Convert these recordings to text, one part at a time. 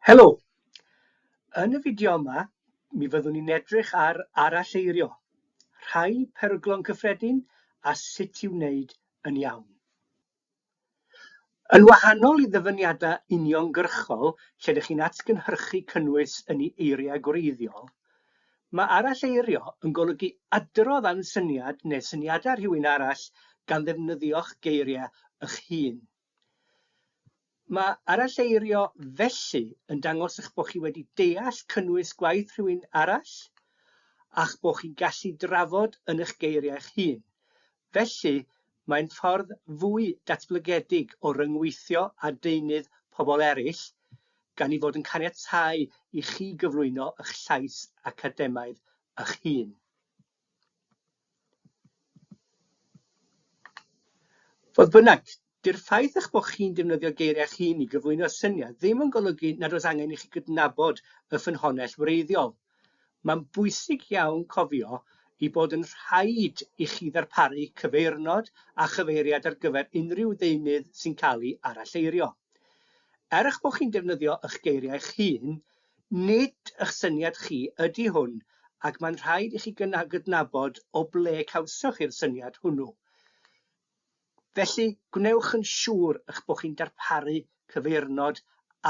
Helo! Yn y fideo yma, mi fyddwn ni'n edrych ar aralleirio, rhai peryglon cyffredin a sut i'w wneud yn iawn. Yn wahanol i ddyfyniadau uniongyrchol lle dych chi'n atgynhyrchu cynnwys yn ei eiriau gwreiddiol, mae aralleirio yn golygu adrodd am syniad neu syniadau rhywun arall gan ddefnyddio'ch geiriau eich hun. Mae aralleirio felly yn dangos eich bod chi wedi deall cynnwys gwaith rhywun arall a'ch bod chi'n gallu drafod yn eich geiriau eich hun. Felly, mae'n ffordd fwy datblygedig o ryngweithio â deunydd pobl eraill, gan ei fod yn caniatáu i chi gyflwyno eich llais academaidd eich hun. Fodd bynnag, dy'r ffaith eich bod chi'n defnyddio geiriau eich hun i gyflwyno syniad ddim yn golygu nad oes angen i chi gydnabod y ffynhonnell wreiddiol. Mae'n bwysig iawn cofio ei bod yn rhaid i chi ddarparu cyfeirnod a chyfeiriad ar gyfer unrhyw ddeunydd sy'n cael ei aralleirio. Er eich bod chi'n defnyddio eich geiriau eich hun, Nid ych syniad chi ydy hwn ac mae'n rhaid i chi gydnabod o ble cawsoch chi'r syniad hwnnw. Felly, gwnewch yn siŵr eich bod chi'n darparu cyfeirnod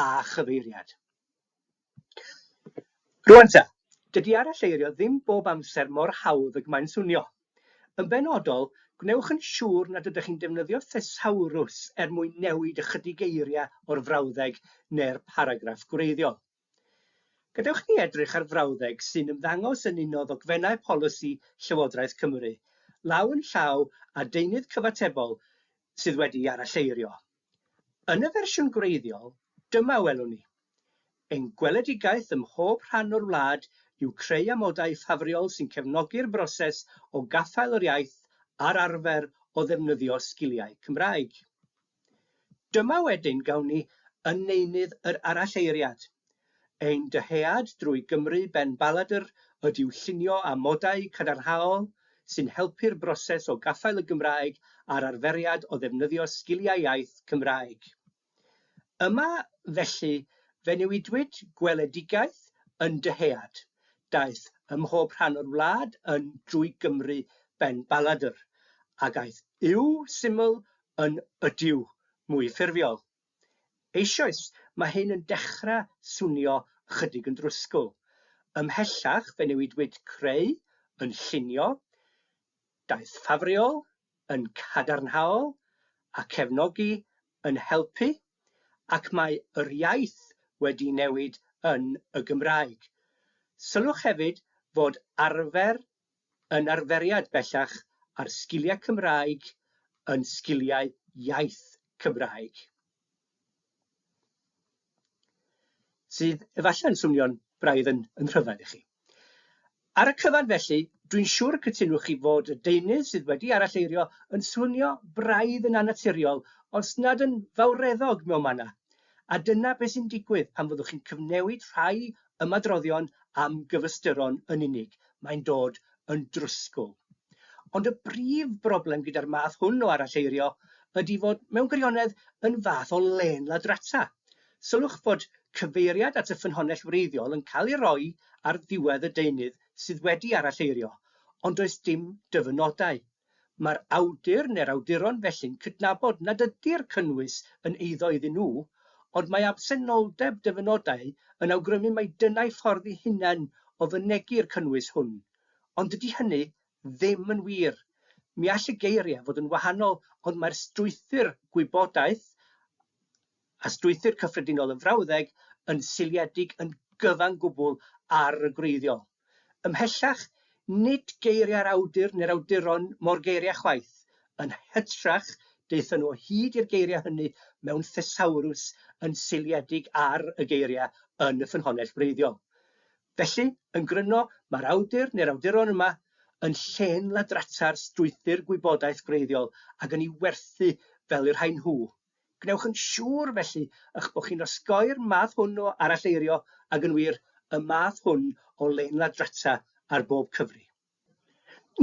a chyfeiriad. Rŵan ta, dydy aralleirio ddim bob amser mor hawdd ag mae'n swnio. Yn benodol, gwnewch yn siŵr nad ydych chi'n defnyddio thesawrws er mwyn newid ychydig eiriau o'r frawddeg neu'r paragraff gwreiddiol. Gadewch i ni edrych ar frawddeg sy'n ymddangos yn un o ddogfennau polisi Llywodraeth Cymru, law yn llaw â deunydd cyfatebol sydd wedi'i aralleirio. Yn y fersiwn gwreiddiol, dyma a welwn ni, Ein gweledigaeth ym mhob rhan o'r wlad yw creu amodau ffafriol sy'n cefnogi'r broses o gaffael yr iaith a'r arfer o ddefnyddio sgiliau Cymraeg. Dyma wedyn gawn ni yn neunydd yr aralleiriad. Ein dyhead drwy Gymru ben baladr ydyw llunio amodau cadarnhaol sy'n helpu'r broses o gaffael y Gymraeg a'r arferiad o ddefnyddio sgiliau iaith Cymraeg. Yma, felly, fe newidwyd gweledigaeth yn dyhead, daeth ymhob rhan o'r wlad yn drwy Gymru ben baladr, ag aeth yw syml yn ydyw mwy ffurfiol. Eisoes, mae hyn yn dechrau swnio ychydig yn drwsgl. Ymhellach fe newidwyd creu yn llunio, daeth ffafriol yn cadarnhaol a cefnogi yn helpu, ac mae yr iaith wedi newid yn y Gymraeg. Sylwch hefyd fod arfer yn arferiad bellach ar sgiliau Cymraeg yn sgiliau iaith Cymraeg. Sydd efallai'n swnio'n braidd yn yn rhyfedd i chi. Ar y cyfan felly, dwi'n siŵr y cytunwch chi fod y deunydd sydd wedi aralleirio yn swnio braidd yn annaturiol os nad yn fawreddog mewn manna, a dyna beth sy'n digwydd pan fyddwch chi'n cyfnewid rhai ymadroddion am gyfystyron yn unig, mae'n dod yn drwsgl. Ond y brif broblem gyda'r math hwn o aralleirio ydy fod mewn gwirionedd yn fath o lên ladrata. Sylwch fod cyfeiriad at y ffynhonnell wreiddiol yn cael ei roi ar ddiwedd y deunydd sydd wedi aralleirio, ond does dim dyfynodau Mae'r awdur neu'r awduron felly'n cydnabod nad ydy'r cynnwys yn eiddo iddyn nhw, ond mae absenoldeb dyfynodau yn awgrymu mai dyna'u ffordd eu hunain o fynegi'r cynnwys hwn. Ond dydy hynny ddim yn wir. Mi all y geiriau fod yn wahanol ond mae'r strwythur gwybodaeth, a strwythur cyffredinol y frawddeg yn seiliedig yn gyfan gwbl ar y gwreiddiol. Ymhellach, nid geiriau'r awdur neu'r awduron mo'r geiriau chwaith, yn hytrach, daethon nhw o hyd i'r geiriau hynny mewn thesawrws yn seiliedig ar y geiriau yn y ffynhonnell wreiddiol. Felly, yn gryno, mae'r awdur neu'r awduron yma yn llên ladrata'r strwythur gwybodaeth gwreiddiol ac yn ei werthu fel y rhain nhw, Gwnewch yn siŵr, felly, eich bod chi'n osgoi'r math hwn o aralleirio ag yn wir, y math hwn o lein-ladrata ar bob cyfri.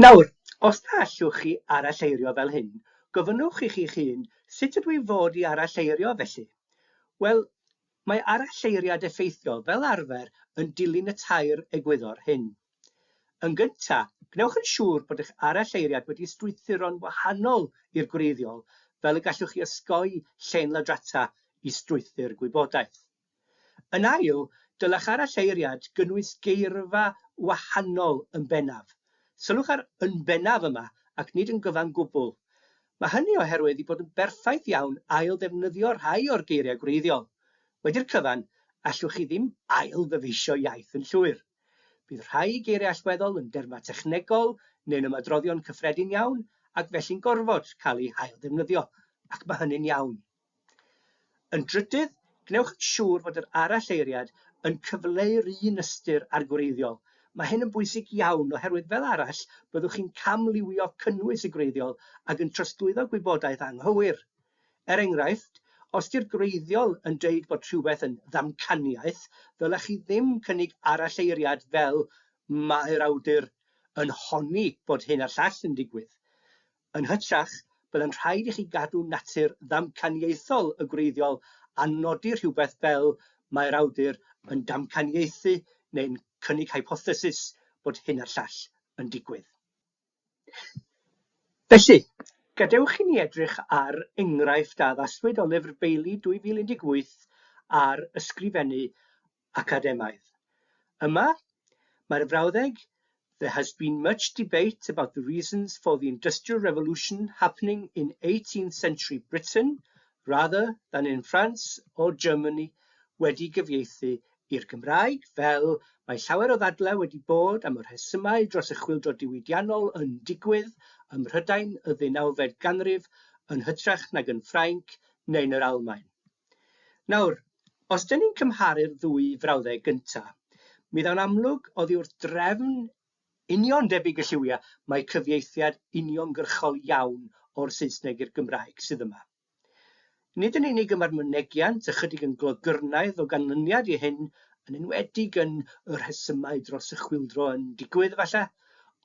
Nawr, os na allwch chi aralleirio fel hyn, gofynnwch i chi'ch hun, 'Sut ydw i fod i aralleirio, felly? Wel, mae aralleiriad effeithiol, fel arfer, yn dilyn y tair egwyddor hyn. Yn gyntaf, gwnewch yn siŵr bod eich aralleiriad wedi strwythuro'n wahanol i'r gwreiddiol fel y gallwch chi osgoi llên ladrata i strwythur gwybodaeth. Yn ail, dylech aralleiriad gynnwys geirfa wahanol yn bennaf. Sylwch ar 'yn bennaf' yma ac nid 'yn gyfan gwbl'. Mae hynny oherwydd ei bod yn berffaith iawn ail-ddefnyddio rhai o'r geiriau gwreiddiol. Wedi'r cyfan, allwch chi ddim ail-ddyfeisio iaith yn llwyr. Bydd rhai geiriau allweddol yn dermau technegol neu'n ymadroddion cyffredin iawn ac felly'n gorfod cael eu hailddefnyddio, ac mae hynny'n iawn. Yn drydydd, gwnewch yn siŵr fod yr aralleiriad yn cyfleu'r un ystyr â'r gwreiddiol. Mae hyn yn bwysig iawn oherwydd fel arall byddwch chi'n camliwio cynnwys y gwreiddiol ac yn trosglwyddo gwybodaeth anghywir. Er enghraifft, os 'di'r gwreiddiol yn deud bod rhywbeth yn ddamcaniaeth, ddylech chi ddim cynnig aralleiriad fel 'mae'r awdur yn honni bod hyn a'r llall yn digwydd'. Yn hytrach, byddai'n rhaid i chi gadw natur ddamcaniaethol y gwreiddiol a nodi rhywbeth fel 'mae'r awdur yn damcaniaethu neu'n cynnig hypothesis bod hyn a'r llall yn digwydd'. Felly, gadewch i ni edrych ar enghraifft a addaswyd o Lyfr Bailey 2018 ar ysgrifennu academaidd. Yma, mae'r frawddeg There has been much debate about the reasons for the Industrial Revolution happening in eighteenth century Britain rather than in France or Germany wedi gyfieithu i'r Gymraeg, fel mae llawer o ddadlau wedi bod am y rhesymau dros y chwyldro diwydiannol yn digwydd ym Mhrydain y ddeunawfed ganrif yn hytrach nag yn Ffrainc neu'n yr Almaen. Nawr, os dŷn ni'n cymharu'r ddwy frawddeg gynta, mi ddaw'n amlwg oddi wrth drefn union debyg y lliwiau mai cyfieithiad uniongyrchol iawn o'r Saesneg i'r Gymraeg sydd yma. Nid yn unig y mae'r mynegiant ychydig yn glogyrnaidd o ganlyniad i hyn, yn enwedig yn y rhesymau dros y chwyldro yn digwydd, efallai,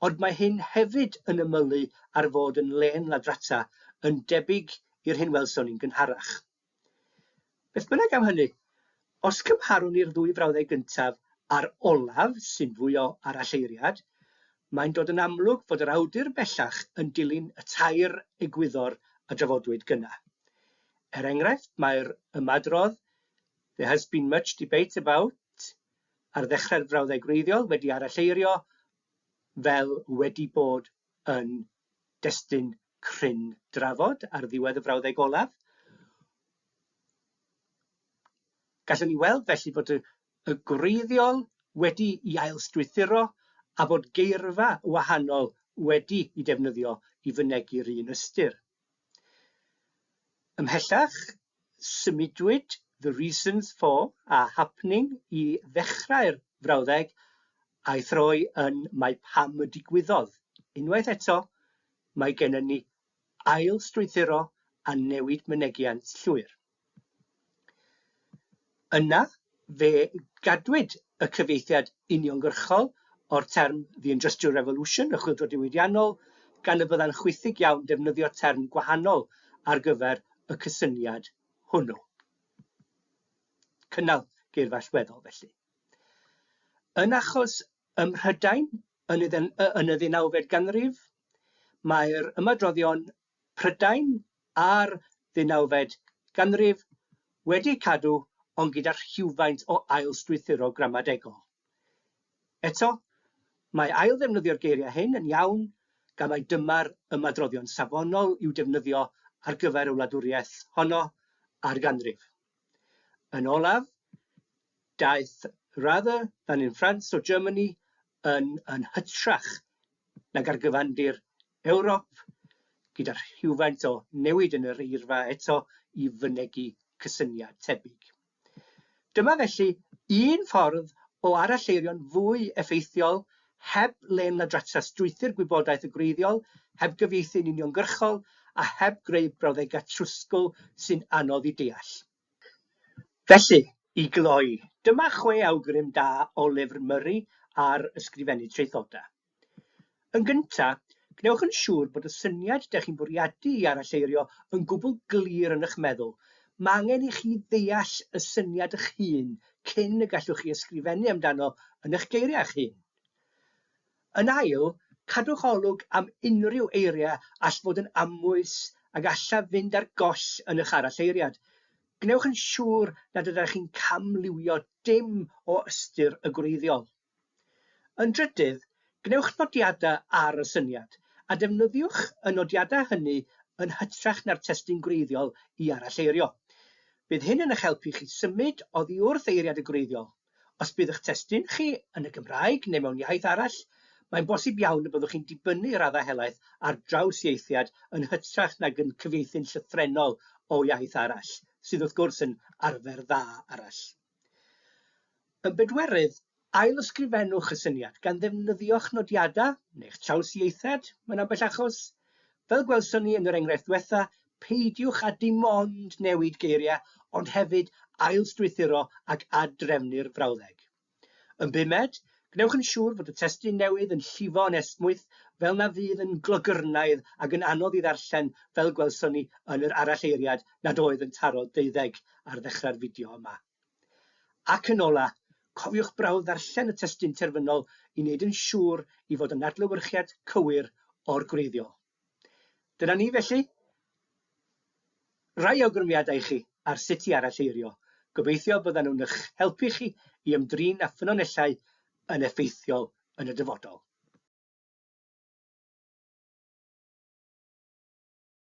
ond mae hyn hefyd yn ymylu ar fod yn lên ladrata, yn debyg i'r hyn welson ni'n gynharach. Beth bynnag am hynny, os cymharwn ni'r ddwy frawddeg gyntaf a'r olaf, sy'n fwy o aralleiriad, mae'n dod yn amlwg fod yr awdur bellach yn dilyn y tair egwyddor a drafodwyd gynna'. Er enghraifft, mae'r ymadrodd 'There has been much debate about' ar ddechrau'r frawddeg wreiddiol wedi aralleirio fel 'wedi bod yn destun cryn drafod ar ddiwedd y frawddeg olaf. Gallwn ni weld felly fod y, y gwreiddiol wedi i ailstrwythuro a fod geirfa wahanol wedi i defnyddio i fynegi'r un ystyr. Ymhellach, Symudwyd The Reasons For a Happening i ddechrau'r frawddeg a'i throi yn Mae Pam y Digwyddodd. Unwaith eto, mae gennym ni ail-strwythuro a newid mynegiant llwyr. Yna, fe gadwyd y cyfieithiad uniongyrchol o'r term The Industrial Revolution, y Chwyldro Diwydiannol, gan y byddai'n chwithig iawn defnyddio term gwahanol ar gyfer y cysyniad hwnnw. Cynnal geirfa allweddol, felly. Yn achos ym Mhrydain yn y ddeunawfed ganrif, mae'r ymadroddion Prydain a'r ddeunawfed ganrif wedi cadw ond gyda rhywfaint o ail-strwythuro gramadegol. Eto, mae ail-ddefnyddio'r geiriau hyn yn iawn gan mai dyma'r ymadroddion safonol i'w defnyddio ar gyfer y wladwriaeth honno a'r ganrif. Yn olaf, daeth 'rather than in France or Germany' yn yn hytrach nag ar gyfandir Ewrop, gyda rhywfaint o newid yn yr eirfa eto i fynegi cysyniad tebyg. Dyma felly un ffordd o aralleirio'n fwy effeithiol heb lên ladrata strwythur gwybodaeth y gwreiddiol, heb gyfieithu'n uniongyrchol a heb greu brawddegau trwsgl sy'n anodd i deall. Felly, i gloi, dyma chwe awgrym da o lyfr Murray ar ysgrifennu traethodau. Yn gyntaf, gwnewch yn siŵr bod y syniad dych chi'n bwriadu i aralleirio yn gwbl glir yn eich meddwl, mae angen i chi ddeall y syniad eich hun cyn y gallwch chi ysgrifennu amdano yn eich geiriau eich hun. Yn ail, cadwch olwg am unrhyw eiriau all fod yn amwys a gallaf fynd ar goll yn eich aralleiriad. Gwnewch yn siŵr nad ydych chi'n camliwio dim o ystyr y gwreiddiol. Yn drydydd, gwnewch nodiadau ar y syniad, a defnyddiwch y nodiadau hynny yn hytrach na'r testun gwreiddiol i aralleirio. Bydd hyn yn eich helpu chi symud oddi wrth eiriad y gwreiddiol. Os bydd eich testun chi yn y Gymraeg neu mewn iaith arall, mae'n bosib iawn y byddwch chi'n dibynnu i raddau helaeth ar drawsieithiad yn hytrach nag yn cyfieithu'n llythrennol o iaith arall, sydd wrth gwrs yn arfer dda arall. Yn bedwerydd, ail-ysgrifennwch y syniad gan ddefnyddio'ch nodiadau neu'ch trawsieithiad mewn ambell achos. Fel gwelson ni yn yr enghraifft ddiwetha', peidiwch â dim ond newid geiriau ond hefyd ailstrwythuro ac ad-drefnu'r frawddeg. Yn bumed, gwnewch yn siŵr fod y testun newydd yn llifo yn esmwyth fel na fydd yn glogyrnaidd ac yn anodd ei ddarllen fel gwelson ni yn yr aralleiriad nad oedd yn taro deuddeg ar ddechrau'r fideo yma. Ac yn ola, cofiwch brawf ddarllen y testun terfynol i wneud yn siŵr i fod yn adlewyrchiad cywir o'r gwreiddiol. Dyna ni felly. Rai awgrymiadau i chi ar sut i aralleirio. Gobeithio byddan nhw'n eich helpu chi i ymdrin â ffynonellau yn effeithiol yn y dyfodol.